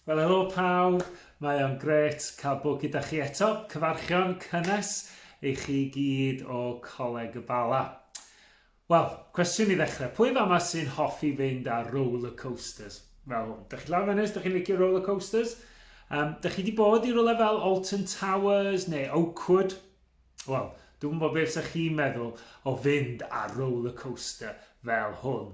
Wel helo pawb, mae o'n gret cael bod gyda chi eto. Cyfarchion cynnes i chi gyd o Coleg y Bala. Wel, cwestiwn i ddechrau. Pwy fama sy'n hoffi fynd ar roller coasters? Fel hwn. Dych chi lawr ynnes, dych chi'n licio roller coasters? Um, dych chi wedi bod i rolau fel Alton Towers neu Oakwood? Wel, dwi'n gwybod beth ydych chi'n meddwl o fynd ar roller coaster fel hwn.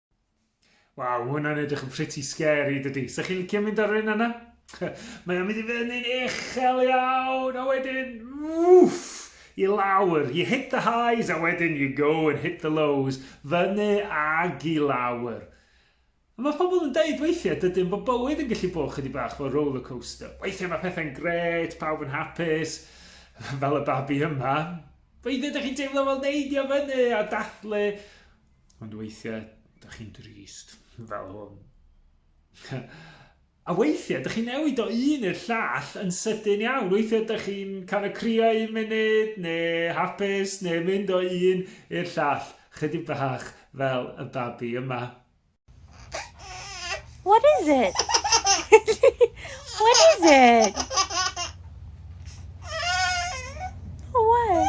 Waw, mae hwnna'n edrych yn pretty scary, dydy. Sa chi'n licio mynd ar un yna? mae o'n mynd i fyny'n uchel iawn, a wedyn, wff, i lawr. You hit the highs, a wedyn you go and hit the lows. Fyny ag i lawr. Mae pobl yn dweud weithiau dydyn bod bywyd yn gallu bod chydig bach fel roller coaster. Weithiau mae pethau'n gret, pawb yn hapus, fel y babi yma. Weithiau ydych chi'n teimlo fel neidio fyny a dathlu Ond weithiau, da chi'n drist, fel hwn. A weithiau, ydych chi'n newid o un i'r llall yn sydyn iawn. Weithiau, ydych chi'n cael y crio un munud, neu hapus, neu mynd o un i'r llall, chydig bach fel y babi yma. What is it? what is it? Oh, what?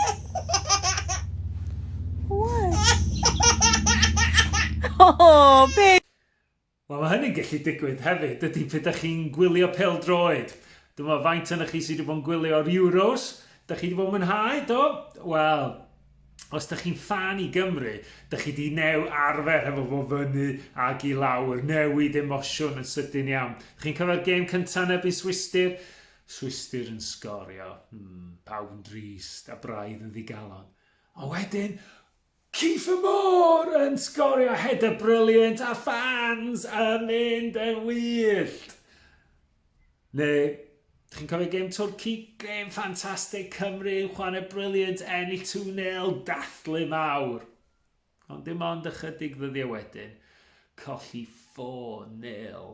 What? Oh, babe. Wel, mae hynny'n gallu digwydd hefyd, ydy pe da chi'n gwylio pel droed. Dyma faint yna chi sydd wedi bod yn gwylio'r Euros. Da chi wedi bod yn mwynhau, do? Wel, os da chi'n fan i Gymru, da chi di new arfer hefo fo fyny ag i lawr, newid emosiwn yn sydyn iawn. Chi'n cofio'r gêm cyntaf yn erbyn Swistir? Swistir yn sgorio, hmm, pawb yn drist a braidd yn ddigalon. A wedyn, Kiefer Moore yn sgorio header brilliant a fans yn mynd yn wyllt. Neu, chi'n cofio gêm Twrci? Gêm ffantastig, Cymru yn chwarae briliant, ennill 2-0, dathlu mawr. Ond dim ond ychydig ddyddiau wedyn, colli 4-0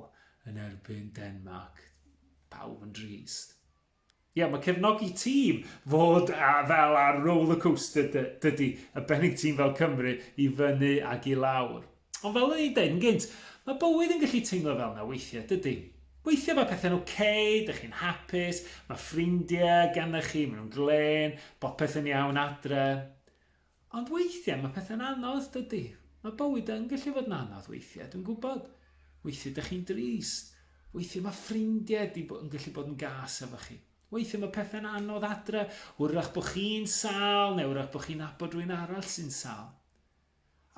yn erbyn Denmark. Pawb yn drist. Ie, yeah, mae cefnogi tîm fod a, fel ar roller coaster dy, dydy, y bennig tîm fel Cymru i fyny ac i lawr. Ond fel o'n i'n dweud yn gynt, mae bywyd yn gallu teimlo fel na weithiau, dydy. Weithiau mae pethau'n oce, okay, dych chi'n hapus, mae ffrindiau gennych chi, maen nhw'n glen, bopeth yn iawn adre. Ond weithiau mae pethau'n anodd, dydy? Mae bywyd yn gallu fod yn anodd weithiau, dwi'n gwybod. Weithiau dych chi'n drist. Weithiau mae ffrindiau di yn gallu bod yn gas efo chi. Weithiau mae pethau'n anodd adre, wrach bod chi'n sal neu wrach bod chi'n abod rwy'n arall sy'n sal.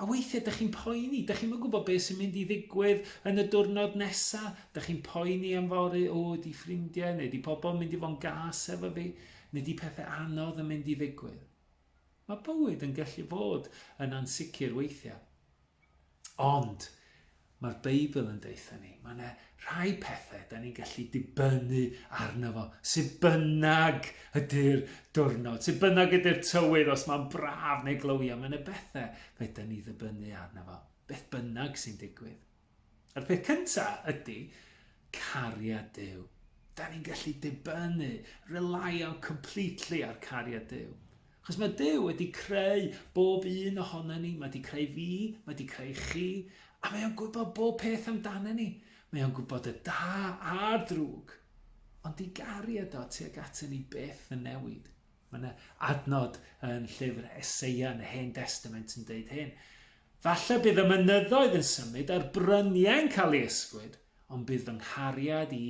A weithiau dych chi'n poeni, dych chi'n mynd gwybod beth sy'n mynd i ddigwydd yn y diwrnod nesa, dych chi'n poeni am fory, o, di ffrindiau neu di pobl mynd i fo'n gas efo fi, neu di pethau anodd yn mynd i ddigwydd. Mae bywyd yn gallu bod yn ansicr weithiau. Ond mae'r Beibl yn deutha ni, mae yna rhai pethau da ni'n gallu dibynnu arno fo, sydd bynnag ydy'r diwrnod, sydd bynnag ydy'r tywydd, os mae'n braf neu glywiau, mae yna bethau fe da ni ddibynnu arno fo, beth bynnag sy'n digwydd. Yr peth cynta ydy cariad Duw. Da ni'n gallu dibynnu, relaio completely ar cariad Duw. Chos mae Duw wedi creu bob un ohono ni, mae wedi creu fi, mae wedi creu chi, a mae o'n gwybod bob peth amdano ni. Mae o'n gwybod y da a'r drwg. Ond i gariad o tuag ato ni beth yn newid. Mae yna adnod yn llyfr Eseia yn y Hen Testament yn dweud hyn. Falle bydd y mynyddoedd yn symud a'r bryniau'n cael ei ysgwyd, ond bydd fy nghariad i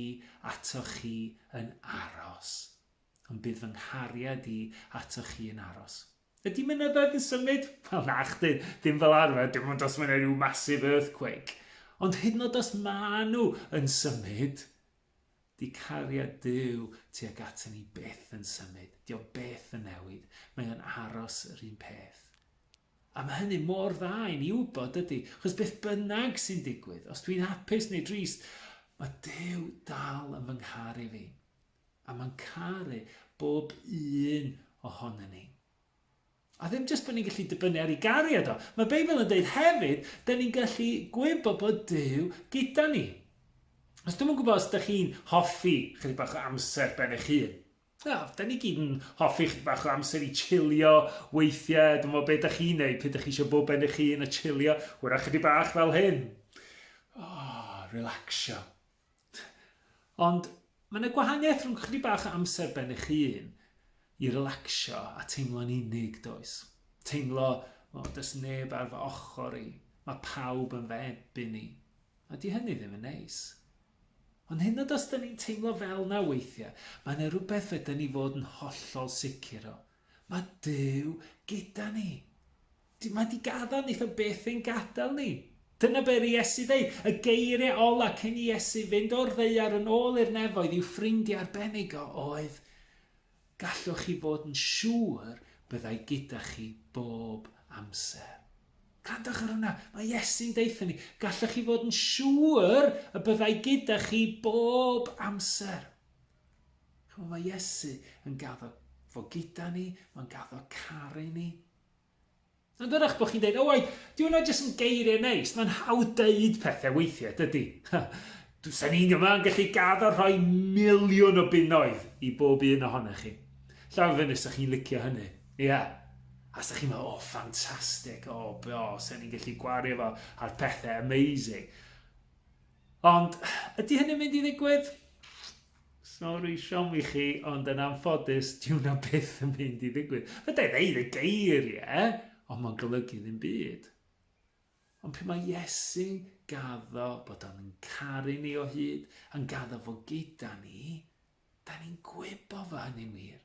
atoch chi yn aros. Ond bydd fy nghariad i atoch chi yn aros. Ydy mynyddoedd yn symud? Wel, na chdi, dim fel arfer, dim ond os mae'n rhyw massive earthquake. Ond hyd yn oed os maen nhw yn symud, di cariad Duw tuag ato ni byth yn symud. Di o byth yn newid. Mae o'n aros yr un peth. A mae hynny mor dda i ni wybod, dydy? Chos beth bynnag sy'n digwydd, os dwi'n hapus neu drist, mae Duw dal yn fy ngharu fi. A mae'n caru bob un ohono ni. A ddim jyst bod ni'n gallu dibynnu ar ei gariad o. Mae Beibl yn dweud hefyd, da ni'n gallu gwybod bod Duw gyda ni. Os dwi'n yn gwybod os ydych chi'n hoffi chydig bach o amser ben eich hun, O, da ni gyd yn hoffi chi bach o amser i chilio weithiau. Dwi'n meddwl beth da chi'n neud, pryd da chi eisiau bod ben eich hun a chilio, hwyrach ydy bach fel hyn. O, oh, relaxio. Ond mae yna gwahaniaeth rhwng chdi bach o amser ben eich hun i relaxio a teimlo'n unig, does? Teimlo, o, oh, does neb ar fy ochr i. Mae pawb yn fy ebyn i. A di hynny ddim yn neis. Ond hyd yn oed os ydyn ni'n teimlo fel 'na weithiau, mae yna rywbeth fedrwn ni fod yn hollol sicr o. Mae Duw gyda ni. Dyw mae di gadael ni, fe byth ein gadael ni. Dyna be ry Iesu ddeud, y geiriau ola cyn i Iesu fynd o'r ddaear yn ôl i'r nefoedd i'w ffrindiau arbennig o oedd, Gallwch chi fod yn siŵr byddai gyda chi bob amser. Grandwch ar hwnna, mae Iesu'n deutha ni, gallwch chi fod yn siŵr y byddai gyda chi bob amser. Chymod, mae Iesu yn gaddo fo gyda ni, mae'n gaddo caru ni. Yn dyrach bod chi'n dweud, owain, dyw hwnna jyst yn geiriau neis, mae'n hawdd dweud pethau weithiau, dydy. Does ni'n yma yn gallu gad a rhoi miliwn o bunnoedd i bob un ohonych chi. Llaw fyny os ydych chi'n licio hynny. Ie. Yeah. A ydych chi'n meddwl, o, ffantastig, o, be o, se ni'n gallu gwario fo ar pethau amazing. Ond, ydy hynny'n mynd i ddigwydd? Sori siom i chi ond yn anffodus dyw na byth yn mynd i ddigwydd. Fedra i ddeud y geiriau ond mae'n golygu ddim byd. Ond pe mae Iesu gaddo bod o'n yn caru ni o hyd, yn gaddo fo gyda ni, da ni'n gwybod fo hynny'n wir.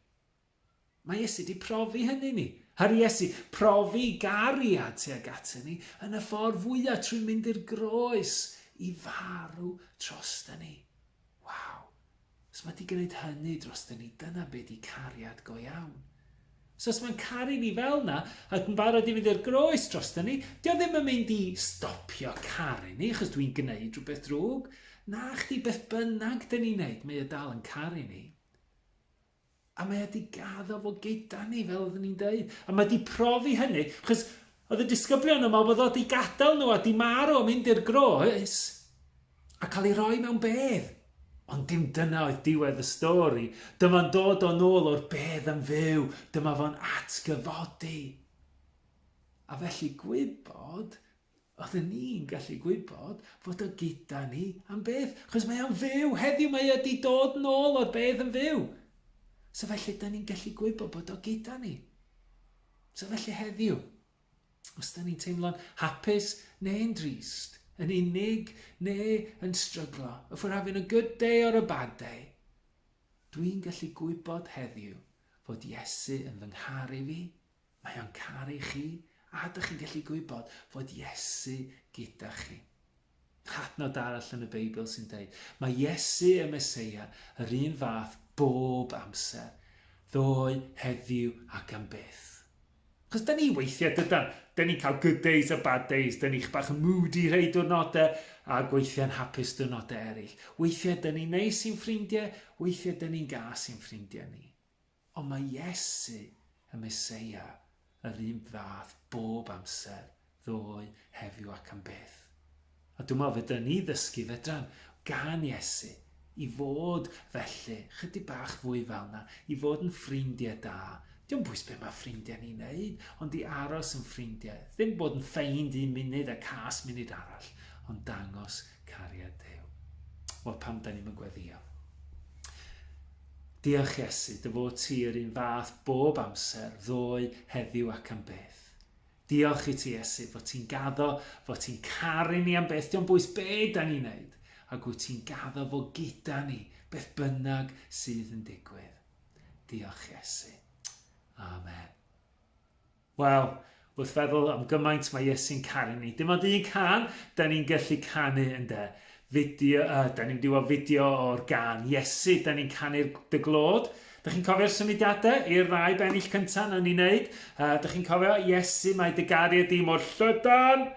Mae Iesu 'di profi hynny i ni. Her Iesu, profi gariad tuag atyn ni yn y ffordd fwya trwy mynd i'r groes i farw trostyn ni. Waw! Os mae 'di gwneud hynny drostyn ni, dyna be 'di cariad go iawn. So os mae'n caru ni fel na, ac yn barod i fynd i'r groes drostyn ni, di o ddim yn mynd i stopio caru ni, achos dwi'n gwneud rhywbeth drwg. Na chdi, beth bynnag dyn ni'n neud, mae e dal yn caru ni. A mae e 'di gaddo fo gyda ni, fel oeddwn i'n dweud. A mae 'di profi hynny, chos oedd y disgyblion yn meddwl bod o 'di gadael nhw a 'di marw a mynd i'r groes, a cael ei roi mewn bedd. Ond dim dyna oedd diwedd y stori. Dyma'n dod o'n ôl o'r bedd yn fyw, dyma fo'n atgyfodi. A felly gwybod Oedden ni'n gallu gwybod fod o gyda ni am byth, chos mae o'n fyw heddiw, mae o di dod nôl o'r bedd yn fyw. So felly, da ni'n gallu gwybod bod o gyda ni. So felly heddiw, os da ni'n teimlo'n hapus neu'n drist, yn unig neu yn stryglo, if we're having a good day or a bad day, dwi'n gallu gwybod heddiw fod Iesu yn fy ngharu fi, Mae o'n caru chi, a dych chi'n gallu gwybod fod Iesu gyda chi. Hadnod arall yn y Beibl sy'n dweud, mae Iesu y Meseia yr un fath bob amser, ddoe, heddiw ac am byth. Chos dyn ni weithiau, dydan, dyn ni'n cael good days a bad days, dyn ni'n bach yn moody rhai diwrnodau a gweithiau'n hapus diwrnodau eraill. Weithiau dyn ni'n neis i'n ffrindiau, weithiau dyn ni'n gas i'n ffrindiau ni. Ond mae Iesu, y Meseia, yr un fath bob amser, ddoe, heddiw ac am byth. A dwi'n meddwl fe dyn ni ddysgu fedran gan Iesu i fod felly, chydig bach fwy fel na, i fod yn ffrindiau da. Diolch bwys beth mae ffrindiau ni'n neud, ond i aros yn ffrindiau. Ddim bod yn ffeind un munud a cas munud arall, ond dangos cariad Duw. Wel, pam da ni'n mynd gweddio? Diolch Iesu, dy fod ti yr un fath bob amser, ddoe, heddiw ac am byth. Diolch i ti Iesu fod ti'n gaddo, fod ti'n caru ni am byth, diolch bwys be da ni'n neud, ac wyt ti'n gaddo fo gyda ni, beth bynnag sydd yn digwydd. Diolch Iesu. Amen. Wel, wrth feddwl am gymaint mae Iesu'n caru ni. Dim ond un can da ni'n gallu canu, ynde? Fideo, uh, da ni'n mynd fideo o'r gan Iesu, da ni'n canu'r dy glod. Da chi'n cofio'r symudiadau i'r ddau bennill cyntaf na ni'n neud? Uh, da chi'n cofio, Iesu, mae dy gariad di mor llydan,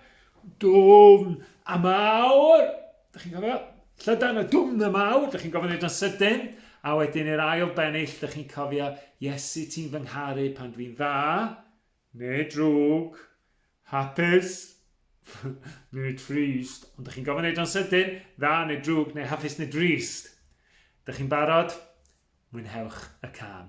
dwfn a mawr. Dych chi'n gofio? Llydan y dwm y mawr, dych chi'n gofio wneud yn sydyn, a wedyn i'r ail bennill, dych chi'n cofio, Iesu ti'n fy ngharu pan dwi'n dda, neu drwg, hapus, neu trist. Ond dych chi'n gofio wneud yn sydyn, dda neu drwg, neu hapus neu drist. Dych chi'n barod? Mwynhewch y can.